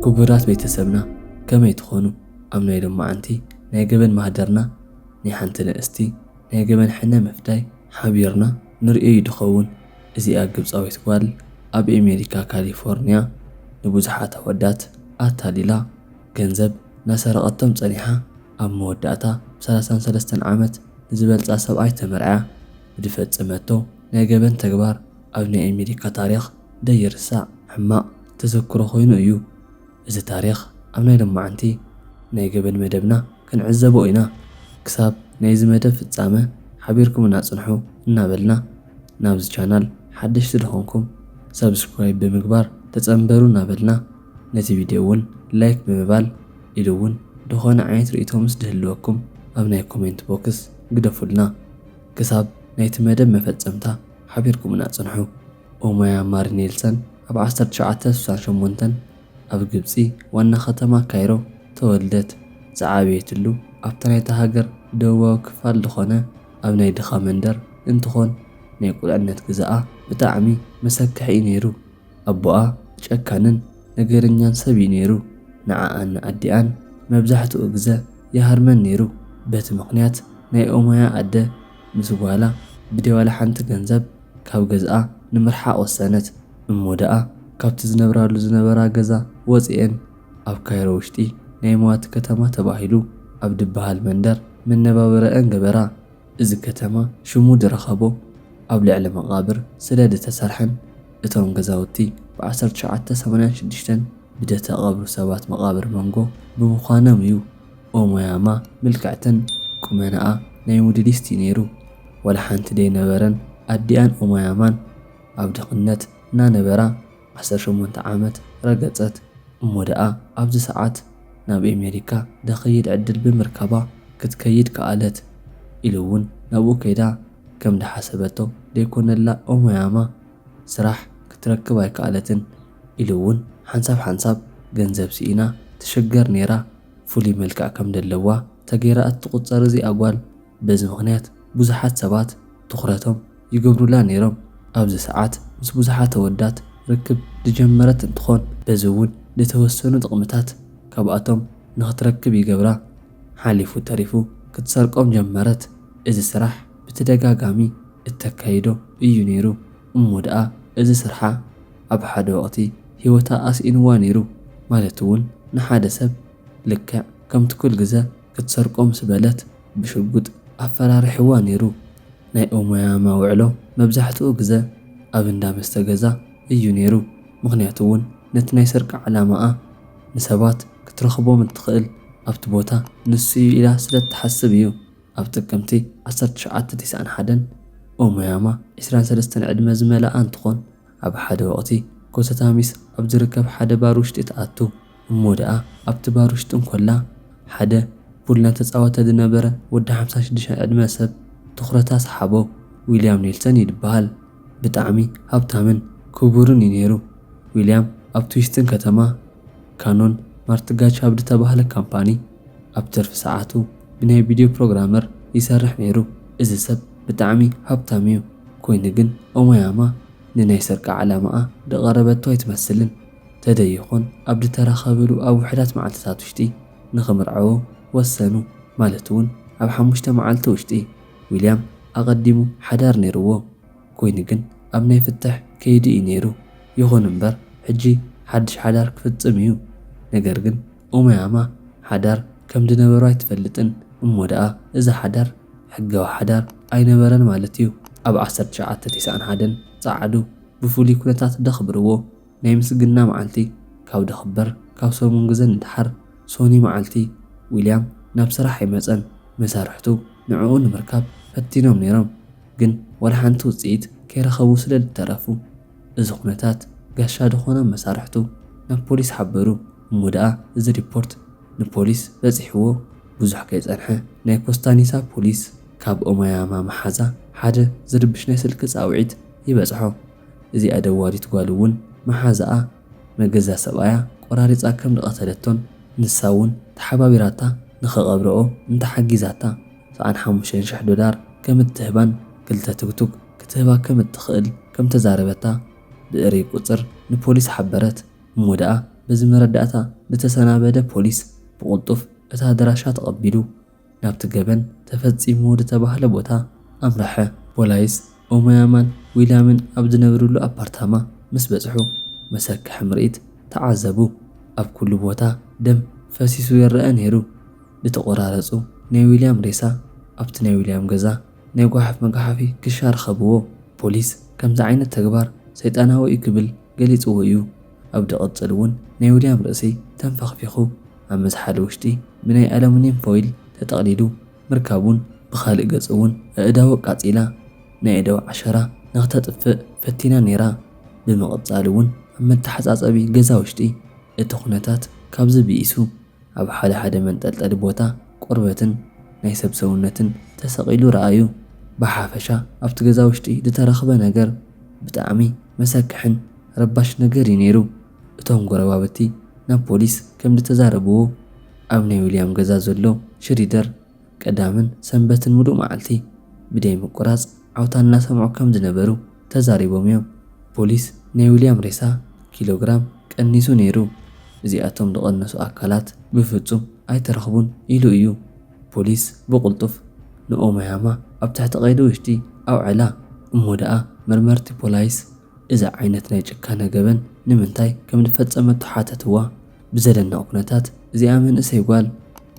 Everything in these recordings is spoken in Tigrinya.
ኩቡራት ቤተሰብና ከመይ ትኾኑ ኣብ ናይ ሎማዓንቲ ናይ ገበን ማህደርና ናይ ሓንቲ ንእስቲ ናይ ገበን ሕነ ምፍዳይ ሓቢርና ንርእዮ ዩ ድኸውን እዚኣ ግብጻዊት ጓል ኣብ ኤሜሪካ ካሊፎርንያ ንቡዙሓት ኣወዳት ኣታሊላ ገንዘብ ናሰረቀቶም ጸኒሓ ኣብ መወዳእታ ብ ሰላሳን ሰለስተን ዓመት ንዝበልጻ ሰብኣይ ተመርዕያ ብድፈጸመቶ ናይ ገበን ተግባር ኣብ ናይ ኤሜሪካ ታሪኽ ደይርሳዕ ሕማቕ ተዘክሮ ኮይኑ እዩ እዚ ታሪኽ ኣብ ናይ ሎማዓንቲ ናይ ገበን መደብና ክንዕዘቦ ኢና ክሳብ ናይዚ መደብ ፍጻመ ሓቢርኩምና ጽንሑ እናበልና ናብዚ ቻናል ሓደሽቲ ድኾንኩም ሳብስክራይብ ብምግባር ተጸንበሩ እናበልና ነቲ ቪድዮ ውን ላይክ ብምባል ኢሉ ውን ድኾነ ዓይነት ርእይቶ ምስ ድህልወኩም ኣብ ናይ ኮሜንት ቦክስ ግደፉልና ክሳብ ናይቲ መደብ መፈጸምታ ሓቢርኩምና ጽንሑ። ኦማያ ማሪ ኔልሰን ኣብ ዓሰርተ ትሽዓተ ስሳን ሸሞንተን ኣብ ግብጺ ዋና ከተማ ካይሮ ተወልደት። ዝዓበየትሉ ኣብቲ ናይታ ሃገር ደቡባዊ ክፋል ዝኾነ ኣብ ናይ ድኻ መንደር እንትኾን ናይ ቁልዕነት ግዘኣ ብጣዕሚ መሰክሕ እዩ ነይሩ። ኣቦኣ ጨካንን ነገረኛን ሰብ እዩ ነይሩ። ንዓኣን ንኣዲኣን መብዛሕትኡ ግዘ ይሃርመን ነይሩ። በቲ ምኽንያት ናይ ኦማያ ኣደ ምስ ጓላ ብደይ ዋላ ሓንቲ ገንዘብ፣ ካብ ገዝኣ ንምርሓቕ ወሰነት። እሞ ደኣ ካብቲ ዝነብራሉ ዝነበራ ገዛ ወጺኤን ኣብ ካይሮ ውሽጢ ናይ መዋቲ ከተማ ተባሂሉ ኣብ ድበሃል መንደር መነባብረኤን ገበራ። እዚ ከተማ ሽሙ ድረኸቦ ኣብ ልዕሊ መቓብር ስለ ድተሰርሐን እቶም ገዛውቲ ብ ዓሰርተ ትሽዓተ ሰማንያን ሽዱሽተን ብደተቐብሩ ሰባት መቓብር መንጎ ብምዃኖም እዩ። ኦሞያማ ምልክዕትን ቁመናኣ ናይ ሙድሊስት እዩ ነይሩ ዋላ ሓንቲ ደይ ነበረን ኣዲኣን ኦሞያማን ኣብ ድክነት እና ነበራ ዓሰርተ ሸሞንተ ዓመት ረገጸት እሞ ደኣ ኣብዚ ሰዓት ናብ ኤሜሪካ ደክይድ ዕድል ብምርካባ ክትከይድ ከኣለት ኢሉ ውን ናብኡ ከይዳ ከም ድሓሰበቶ ደይኮነላ ኦሞያማ ስራሕ ክትረክብ ኣይከኣለትን ኢሉ እውን ሓንሳብ ሓንሳብ ገንዘብ ስኢና ትሽገር ነይራ ፍሉይ መልክዕ ከም ደለዋ ተገይራ እትቑፀር እዚኣ ጓል በዚ ምኽንያት ብዙሓት ሰባት ትኹረቶም ይገብሩላ ነይሮም ኣብዚ ሰዓት ምስ ብዙሓት ኣወዳት ርክብ ድጀመረት እንትኾን በዚ እውን ድተወሰኑ ጥቕምታት ካብኣቶም ንኽትረክብ ይገብራ ሓሊፉ ተሪፉ ክትሰርቆም ጀመረት እዚ ስራሕ ብትደጋጋሚ እተካይዶ እዩ ነይሩ እሞ ደኣ እዚ ስርሓ ኣብ ሓደ ወቕቲ ህይወታ ኣስኢንዋ ነይሩ፣ ማለት'ውን ንሓደ ሰብ ልክዕ ከምቲ ኩል ግዘ ክትሰርቆ ምስ በለት ብሽጉጥ ኣፈራሪሕዋ ነይሩ። ናይ ኡመያ መውዕሎ መብዛሕትኡ ግዘ ኣብ እንዳ መስተ ገዛ እዩ ነይሩ፣ ምኽንያቱ'ውን ነቲ ናይ ስርቂ ዓላማኣ ንሰባት ክትረኽቦም እትኽእል ኣብቲ ቦታ ንሱ'ዩ ኢላ ስለ እትሓስብ እዩ። ኣብ ጥቅምቲ ዓሰርተ ትሽዓተ ቴስዓን ሓደን ኦሞያማ ዕስራን ሰለስተን ዕድመ ዝመልኣ እንትኾን ኣብ ሓደ ወቅቲ ኮሰታሚስ ኣብ ዝርከብ ሓደ ባር ውሽጢ ትኣቱ እሞ ድኣ ኣብቲ ባር ውሽጢ እንኮላ ሓደ ፑል ናተፃወተ ዝነበረ ወዲ ሓምሳ ሽዱሽተ ዕድመ ሰብ ትኹረታ ሰሓቦ ዊልያም ኔልሰን እዩ ዝብሃል ብጣዕሚ ሃብታምን ክቡርን እዩ ነይሩ ዊልያም ኣብቲ ውሽጢን ከተማ ካኖን ማርትጋቻብድተባህለ ካምፓኒ ኣብ ትርፊ ሰዓቱ ብናይ ቪድዮ ፕሮግራመር ይሰርሕ ነይሩ እዚ ሰብ ብጣዕሚ ሃብታም እዩ ኮይኑ ግን ኦማያማ ንናይ ስርቂ ዓላማኣ ድቀረበቶ ኣይትመስልን ተደይኾን ኣብ ድተራኸብሉ ኣብ ውሕዳት መዓልትታት ውሽጢ ንክምርዐዎ ወሰኑ ማለት እውን ኣብ ሓሙሽተ መዓልቲ ውሽጢ ዊልያም ኣቀዲሙ ሓዳር ነይርዎ ኮይኑ ግን ኣብ ናይ ፍትሕ ከይዲ እዩ ነይሩ ይኹን እምበር ሕጂ ሓድሽ ሓዳር ክፍፅም እዩ ነገር ግን ኡመያማ ሓዳር ከም ድነበሩ ኣይትፈልጥን እሞ ደኣ እዚ ሓዳር ሕጋዊ ሓዳር ኣይነበረን ማለት እዩ ኣብ ዓሰርተ ትሽዓተ ቴስዓን ሓደን ጸዓዱ ብፍሉይ ኩነታት ደኽብርዎ ናይ ምስግና መዓልቲ ካብ ድኽበር ካብ ሰሙን ግዘ ንደሓር ሶኒ መዓልቲ ዊልያም ናብ ስራሕ ኣይመጸን መሳርሕቱ ንዕኡ ንምርካብ ፈቲኖም ነይሮም ግን ዋላ ሓንቲ ውጽኢት ከይረኸቡ ስለ ድተረፉ እዚ ኩነታት ጋሻ ድኾኖም መሳርሕቱ ናብ ፖሊስ ሓበሩ እሞ ደኣ እዚ ሪፖርት ንፖሊስ በጺሕዎ ብዙሕ ከይጸንሐ ናይ ኮስታኒሳ ፖሊስ ካብ ኦማያማ መሓዛ ሓደ ዝርብሽ ናይ ስልኪ ጻውዒት ይበጽሖ። እዚኣ ደዋሊት ጓል እውን መሓዛኣ መገዛ ሰብኣያ ቆራሪጻ ከም ዝቐተለቶን ንሳ እውን ተሓባቢራታ ንኽቐብረኦ እንተሓጊዛታ ሰኣን ሓሙሽተ ሽሕ ዶላር ከም እትህባን ክልተ ቱግቱግ ክትህባ ከም እትኽእል ከም እተዛረበታ ብእርይ ቁጽር ንፖሊስ ሓበረት። እሞ ደኣ በዚ መረዳእታ ንተሰናበደ ፖሊስ ብቕልጡፍ እታ ኣድራሻ ተቐቢሉ ናብቲ ገበን ተፈጺሙ ድተባህለ ቦታ ኣምረሐ። ፖላይስ ኦሞያማን ዊልያምን ኣብ ዝነብርሉ ኣፓርታማ ምስ በጽሑ መሰክሕ ምርኢት ተዓዘቡ። ኣብ ኩሉ ቦታ ደም ፈሲሱ ይረኣ ነይሩ። ድተቖራረጹ ናይ ዊልያም ሬሳ ኣብቲ ናይ ዊልያም ገዛ ናይ ጓሓፍ መግሓፊ ክሻ ርኸብዎ ፖሊስ ከምዚ ዓይነት ተግባር ሰይጣናዊ እዩ ክብል ገሊጽዎ እዩ ኣብ ድቅጽል ውን ናይ ዊልያም ርእሲ ተንፈኽፊኹ ኣብ መዝሓሊ ውሽጢ ብናይ ኣለሙንየም ፎይል ተጠቅሊሉ ምርካቡን ብኻልእ ገጽ ውን ኣእዳዉ ኣቃጺላ ናይ ኣእዳዉ ዓሸራ ንኽተጥፍእ ፈቲና ኔራ ብምቅጻል ውን ኣብ መተሓጻጸቢ ገዛ ውሽጢ እቲ ኩነታት ካብዚ ብኢሱ ኣብ ሓደ ሓደ መንጠልጠሊ ቦታ ቆርበትን ናይ ሰብ ሰውነትን ተሰቒሉ ረኣዩ። ብሓፈሻ ኣብቲ ገዛ ውሽጢ ዝተረኽበ ነገር ብጣዕሚ መሰክሕን ረባሽ ነገር እዩ ነይሩ። እቶም ጎረባብቲ ናብ ፖሊስ ከምዝተዛረብዎ ኣብ ናይ ዊልያም ገዛ ዘሎ ሽሪደር፣ ቀዳምን ሰንበትን ምሉእ መዓልቲ ብደይ ምቁራፅ ዓውታ እናሰምዑ ከም ዝነበሩ ተዛሪቦም እዮም። ፖሊስ ናይ ዊልያም ሬሳ ኪሎ ግራም ቀኒሱ ነይሩ፣ እዚኣቶም ዝቐነሱ ኣካላት ብፍፁም ኣይተረኽቡን ኢሉ እዩ። ፖሊስ ብቕልጡፍ ንኦማያማ ኣብ ትሕቲ ቀይዲ ውሽጢ ኣውዐላ። እሞ ደኣ መርመርቲ ፖላይስ እዛ ዓይነት ናይ ጭካነ ገበን ንምንታይ ከም ዝፈፀመቶ ሓተትዋ። ብዘደንቕ ኩነታት እዚኣ መንእሰይ ጓል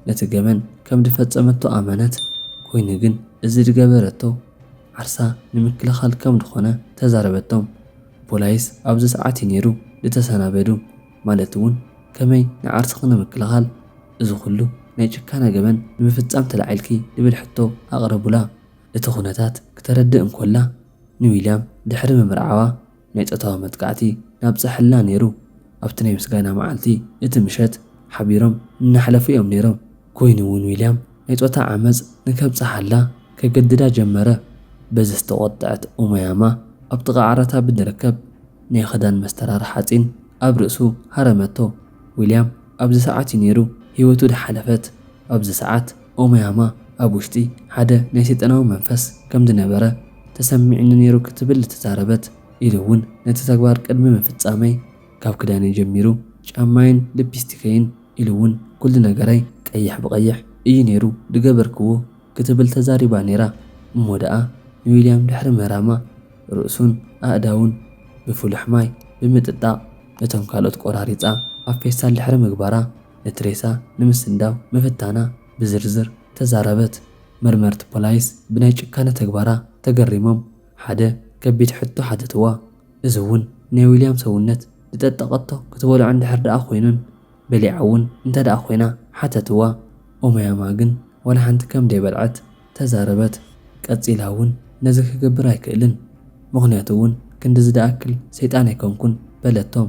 ነቲ ገበን ከም ድፈጸመቶ ኣመነት፣ ኮይኑ ግን እዚ ድገበረቶ ዓርሳ ንምክልኻል ከም ድኾነ ተዛረበቶም። ፖላይስ ኣብዚ ሰዓት እዩ ኔሩ ድተሰናበዱ፣ ማለት እውን ከመይ ንዓርስኺ ንምክልኻል እዚ ኩሉ ናይ ጭካነ ገበን ንምፍጻም ተላዒልኪ ድብል ሕቶ ኣቕረቡላ። እቲ ኩነታት ክተረድእ እንኮላ ንዊልያም ድሕሪ ምምርዓዋ ናይ ጾታዊ መጥቃዕቲ ናብጸሐልና ነይሩ ኣብቲ ናይ ምስጋና መዓልቲ እቲ ምሸት ሓቢሮም እናሕለፉ እዮም ነይሮም ኮይኑ እውን ዊልያም ናይ ጾታ ዓመጽ ንከብጽሓላ ከገድዳ ጀመረ በዚ ዝተቖጠዐት ኡማያማ ኣብ ጥቓ ዓራታ ብድርከብ ናይ ኽዳን መስተራር ሓጺን ኣብ ርእሱ ሃረመቶ ዊልያም ኣብዚ ሰዓት እዩ ነይሩ ህይወቱ ድሓለፈት ኣብዚ ሰዓት ኦማያማ ኣብ ውሽጢ ሓደ ናይ ሰይጣናዊ መንፈስ ከም ዝነበረ ተሰሚዑኒ ነይሩ ክትብል ተዛረበት፣ ኢሉ እውን ነቲ ተግባር ቅድሚ ምፍጻመይ ካብ ክዳነይ ጀሚሩ ጫማይን ልፕስቲከይን ኢሉ እውን ኩሉ ነገረይ ቀይሕ ብቐይሕ እዩ ነይሩ ዝገበርክዎ ክትብል ተዛሪባ ነይራ እሞ ደኣ ንዊልያም ድሕሪ ምህራማ ርእሱን ኣእዳዉን ብፍሉሕ ማይ ብምጥጣቕ እቶም ካልኦት ቆራሪጻ ኣብ ፌስታል ድሕሪ ምግባራ ነቲ ሬሳ ንምስንዳው ምፍታና ብዝርዝር ተዛረበት። መርመርቲ ፖላይስ ብናይ ጭካነ ተግባራ ተገሪሞም ሓደ ከቢድ ሕቶ ሓተትዋ። እዚ እውን ናይ ዊልያም ሰውነት ዝጠጠቐቶ ክትበልዖ እንድሕር ደኣ ኮይኑን በሊዓ እውን እንተ ደኣ ኮይና ሓተትዋ። ኦማያማ ግን ዋላ ሓንቲ ከም ደይበልዐት ተዛረበት። ቀጺላ እውን ነዚ ክገብር ኣይክእልን ምኽንያቱ እውን ክንድዚ ደኣክል ሰይጣን ኣይኮንኩን በለቶም።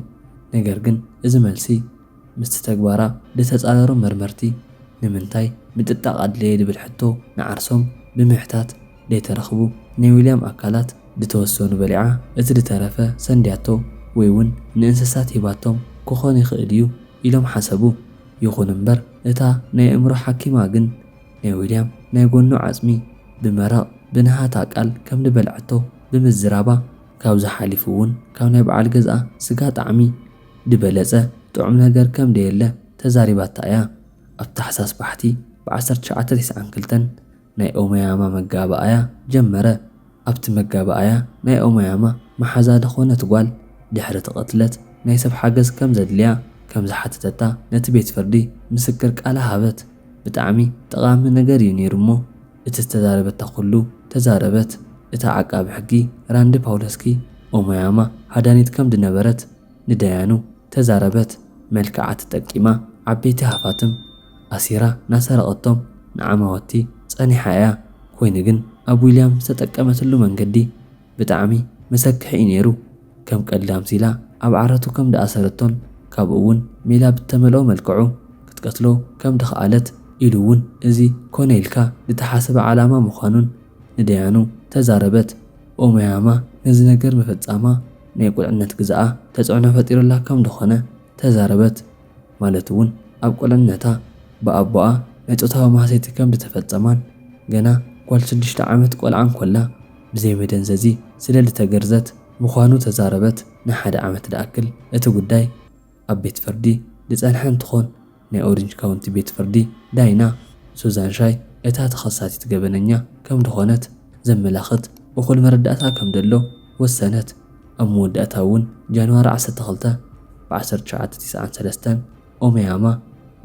ነገር ግን እዚ መልሲ። ምስቲ ተግባራ ልተጻረሩ መርመርቲ ንምንታይ ምጥጣቕ ኣድለየ ልብል ሕቶ ንዓርሶም ብምሕታት ለይተረኽቡ ናይ ዊልያም ኣካላት ልተወሰኑ በሊዓ እቲ ልተረፈ ሰንድያቶ ወይውን ንእንስሳት ሂባቶም ክኾን ይኽእል እዩ ኢሎም ሓሰቡ። ይኹን እምበር እታ ናይ ኣእምሮ ሓኪማ ግን ናይ ዊልያም ናይ ጎኑ ዓጽሚ ብመረቕ ብንሃታ ቃል ከም ልበልዐቶ ብምዝራባ፣ ካብዚ ሓሊፉ እውን ካብ ናይ በዓል ገዝኣ ስጋ ጣዕሚ፣ ድበለጸ ጥዑም ነገር ከም ደየለ ተዛሪባታ እያ። ኣብ ታሕሳስ ባሕቲ ብ ዓሰርተ ትሽዓተ ቴስዓን ክልተን ናይ ኦሞያማ መጋባኣያ ጀመረ። ኣብቲ መጋባኣያ ናይ ኦሞያማ መሓዛ ድኾነት ጓል ድሕሪቲ ቅትለት ናይ ሰብ ሓገዝ ከም ዘድልያ ከም ዝሓተተታ ነቲ ቤት ፍርዲ ምስክር ቃላ ሃበት። ብጣዕሚ ጠቓሚ ነገር እዩ ነይሩ እሞ፣ እቲ ዝተዛረበታ ኩሉ ተዛረበት እታ ዓቃቢ ሕጊ ራንዲ ፓውለስኪ ኦሞያማ ሃዳኒት ከም ድነበረት ንዳያኑ ተዛረበት መልክዓ ተጠቂማ ዓበይቲ ሃፋትም ኣሲራ ናሰረቀቶም ንዓማወቲ ጸኒሓ እያ ኮይኑ ግን ኣብ ዊልያም ዝተጠቀመትሉ መንገዲ ብጣዕሚ መሰክሕ እዩ ነይሩ ከም ቀልዲ ኣምሲላ ኣብ ዓራቱ ከም ድኣሰረቶን ካብኡ ውን ሜላ ብተመልኦ መልክዑ ክትቀትሎ ከም ድኸኣለት ኢሉ ውን እዚ ኮነ ኢልካ ድተሓሰበ ዓላማ ምዃኑን ንደያኑ ተዛረበት ኡመያማ ነዚ ነገር ምፍጻማ ናይ ቁልዕነት ግዘኣ ተጽዕኖ ፈጢሩላ ከም ድኾነ ተዛረበት። ማለት እውን ኣብ ቁልዕነታ ብኣቦኣ ናይ ጾታዊ ማህሰይቲ ከም ዝተፈጸማን ገና ጓል ሽዱሽተ ዓመት ቆልዓ እንኮላ ብዘይ መደንዘዚ ስለ ልተገርዘት ምዃኑ ተዛረበት። ንሓደ ዓመት ልኣክል እቲ ጉዳይ ኣብ ቤት ፍርዲ ልጸንሐ እንትኾን ናይ ኦሪንጅ ካውንቲ ቤት ፍርዲ ዳይና ሱዛን ሻይ እታ ተኸሳሲት ገበነኛ ከም ልኾነት ዘመላኽት እኹል መረዳእታ ከም ደሎ ወሰነት። ኣብ መወዳእታ እውን ጃንዋሪ ዓሰርተ ክልተ ብ ዓሰርተ ትሽዓተ ቲስዓን ሰለስተን ኦመያማ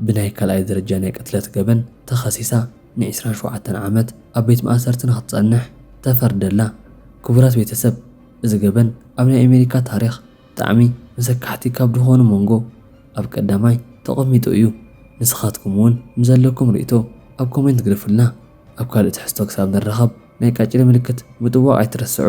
ብናይ ካልኣይ ደረጃ ናይ ቅትለት ገበን ተኸሲሳ ን ዕስራን ሸውዓተን ዓመት ኣብ ቤት ማእሰርቲ ንክትጸንሕ ተፈርደላ። ክቡራት ቤተሰብ እዚ ገበን ኣብ ናይ ኣሜሪካ ታሪኽ ብጣዕሚ መሰካሕቲ ካብ ድኾኑ መንጎ ኣብ ቀዳማይ ተቐሚጡ እዩ። ንስኻትኩም እውን ንዘለኩም ሪእቶ ኣብ ኮሜንት ግደፉልና። ኣብ ካልእ ትሕዝቶ ክሳብ ንራኸብ። ናይ ቃጭሊ ምልክት ምጥዋቕ ኣይትረስዑ።